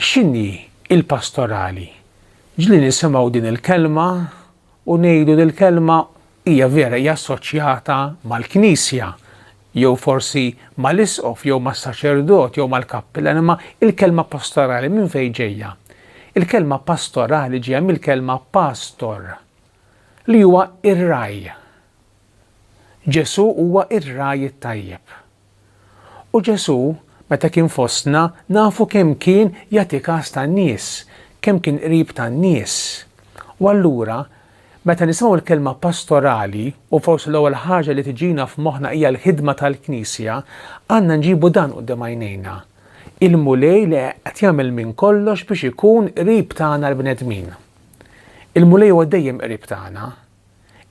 X'inhi l-pastorali? Ġli nisimgħu din il-kelma u ngħidu li l-kelma hija vera hija assoċjata mal-Knisja jew forsi mal-isqof jew mas-saċerdot jew mal-kappillan imma il-kelma pastorali minn fejn ġejja? Il-kelma pastorali ġejja mill-kelma pastor li huwa ir-raj. Ġesù huwa r-ragħaj it-tajjeb. U Ġesù, meta kien fostna, nafu kemm kien jagħti kas tan-nies, kemm kien qrib tan-nies. U allura, meta nisimgħu l-kelma pastorali, u forsi l-ewwel ħaġa li tiġina f'moħħna hija l-ħidma tal-Knisja, għandna nġibu dan quddiem għajnejna, il-Mulej li qed jagħmel minn kollox biex ikun qrib tagħna l-bnedmin. Il-Mulej huwa dejjem qrib tagħna.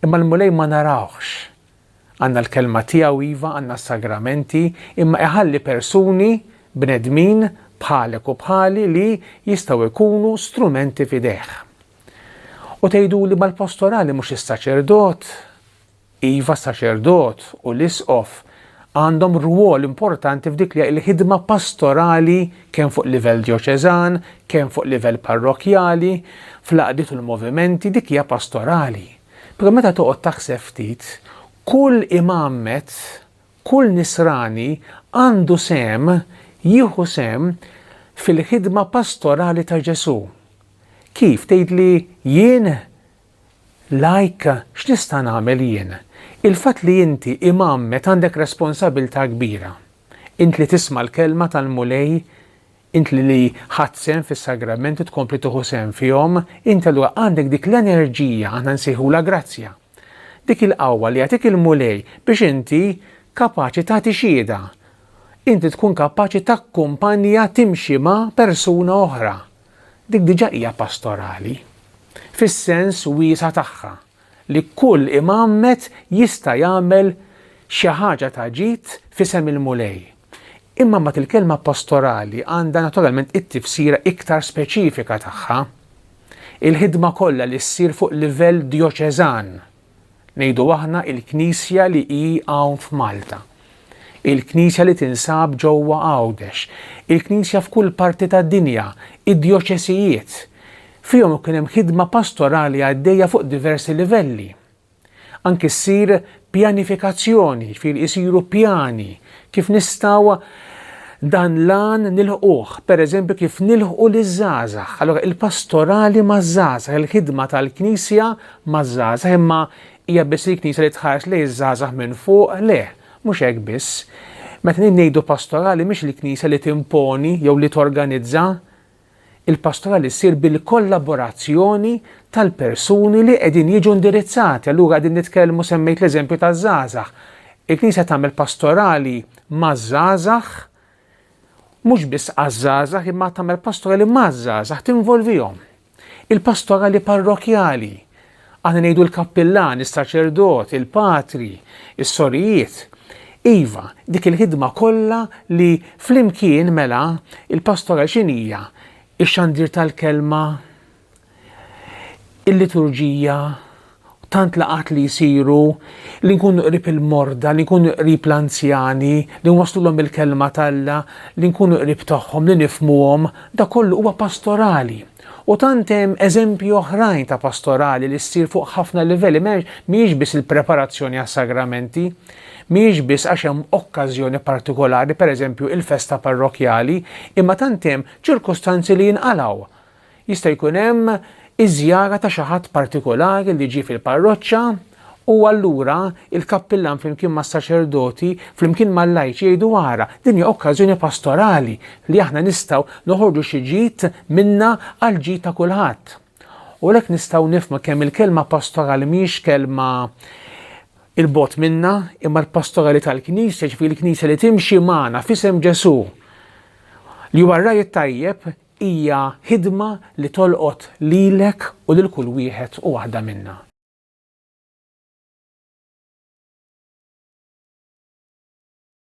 Imma l-Mulej ma narawhx. Għandna l-Kelma tiegħu iva, għandna s-Sagramenti, imma iħalli persuni, bnedmin, bħalek u bħali li jistgħu jkunu strumenti f'idejh. U tgħiduli mal-postorali mhux is-saċerdot, iva saċerdot u l-isqof, għandhom rwol importanti f'dik li l-ħidma pastorali kemm fuq livell djoċeżan, kemm fuq livell parrokkjali, fl-għaqdiet u l-movimenti, dik hija pastorali. Però meta toqgħod taħseb ftit, kull imgħammed, kull nisrani għandu sehem jieħu sehem fil-ħidma pastorali ta' Ġesù. Kif tgħidli jien Like, X'nista' nagħmel jien? Il-fatt li inti imgħammed għandek responsabilità kbira. Int li tisma' l-kelma tal-Mulej, int li li ħadt sehem fis-sagramenti u tkompli tieħu sehem fihom, inti allura għandek dik l-enerġija, aħna nsejħulha grazzja. Dik il-qawwa li jagħtik il-Mulej biex inti kapaċi tagħti xhieda. Inti tkun kapaċi takkumpanja timxi ma' persuna oħra. Dik diġà hija pastorali, fis-sens wiesa' tagħha, li kull imgħammed jista' jagħmel xi ħaġa ta' ġid f'isem il-Mulej. Imma mbagħad il-kelma pastorali għandha naturalment it-tifsira iktar speċifika tagħha, il-ħidma kollha li ssir fuq livell djoċeżan, Ngħidu aħna il-Knisja li hi hawn f'Malta. Il-Knisja li tinsab ġewwa Għawdex. Il-Knisja f'kull parti tad-dinja, id-djoċesijiet. Fihom ikun hemm ħidma pastorali għaddejja fuq diversi livelli. Anki ssir pjanifikazzjoni, jiġifieri isiru pjani kif nistgħu dan l-għan nilħquh, pereżempju kif nilħqu liż-żgħażagħ. Allura il-pastorali maż-żgħażagħ, il-ħidma tal-Knisja maż-żgħażagħ imma hija biss il-Knisja li tħares lejn iż-żgħażagħ minn fuq? Le, mhux hekk biss. Meta din ngħidu pastorali mhix il-Knisja li timponi jew li torganizza. Il-pastorali ssir bil-kollaborazzjoni tal-persuni li qegħdin jiġu indirizzati. Allura qegħdin nitkellmu semmejt l-eżempju taż-żgħażagħ. Il-Knisja tagħmel pastorali maż-żgħażagħ mhux biss għaż-żgħażagħ imma tagħmel pastorali maż-żgħażagħ tinvolvihom. Il-pastorali parrokjali, għana ngħidu l-kappillan, is-saċerdot, il-patri, is-sorijiet, iva, dik il-ħidma kollha li flimkien mela il-pastorali x'inhija? Ix-xandir tal-kelma, il-liturġija, Tant laqgħat li jsiru, li nkunu qrib il-morda, li nkunu qrib l-anzjani, li nwasslulhom il-kelma t'Alla, li nkunu qrib tagħhom, li nifhmuhom, dak kollu huwa pastorali. U tant hemm eżempji oħrajn ta' pastorali li ssir fuq ħafna livelli, mhijiex biss il-preparazzjoni għas-sagramenti, mhijiex biss għax hemm okkażjoni partikolari, pereżempju il-festa parrokkjali, imma tant hemm ċirkustanzi li jinqalgħu. Jista' jkun hemm iż-żjara ta' xi ħadd partikolari li ġie fil-parroċċa, u allura il-kappillan flimkien mas-saċerdoti, flimkien mal-lajċi jgħidu ara, din hija okkażjoni pastorali li aħna nistgħu noħorġu xi ġid minnha għall-ġid ta' kulħadd. U għalhekk nistgħu nifhmu kemm il-kelma pastorali mhijiex kelma il-bogħod minna, imma l-pastorali tal-Knisja, ġifieri l-Knisja li timxi magħna f'isem Ġesù li huwa r-ragħaj it-tajjeb Hija ħidma li tolqot lilek u lil kull wieħed u waħda minna.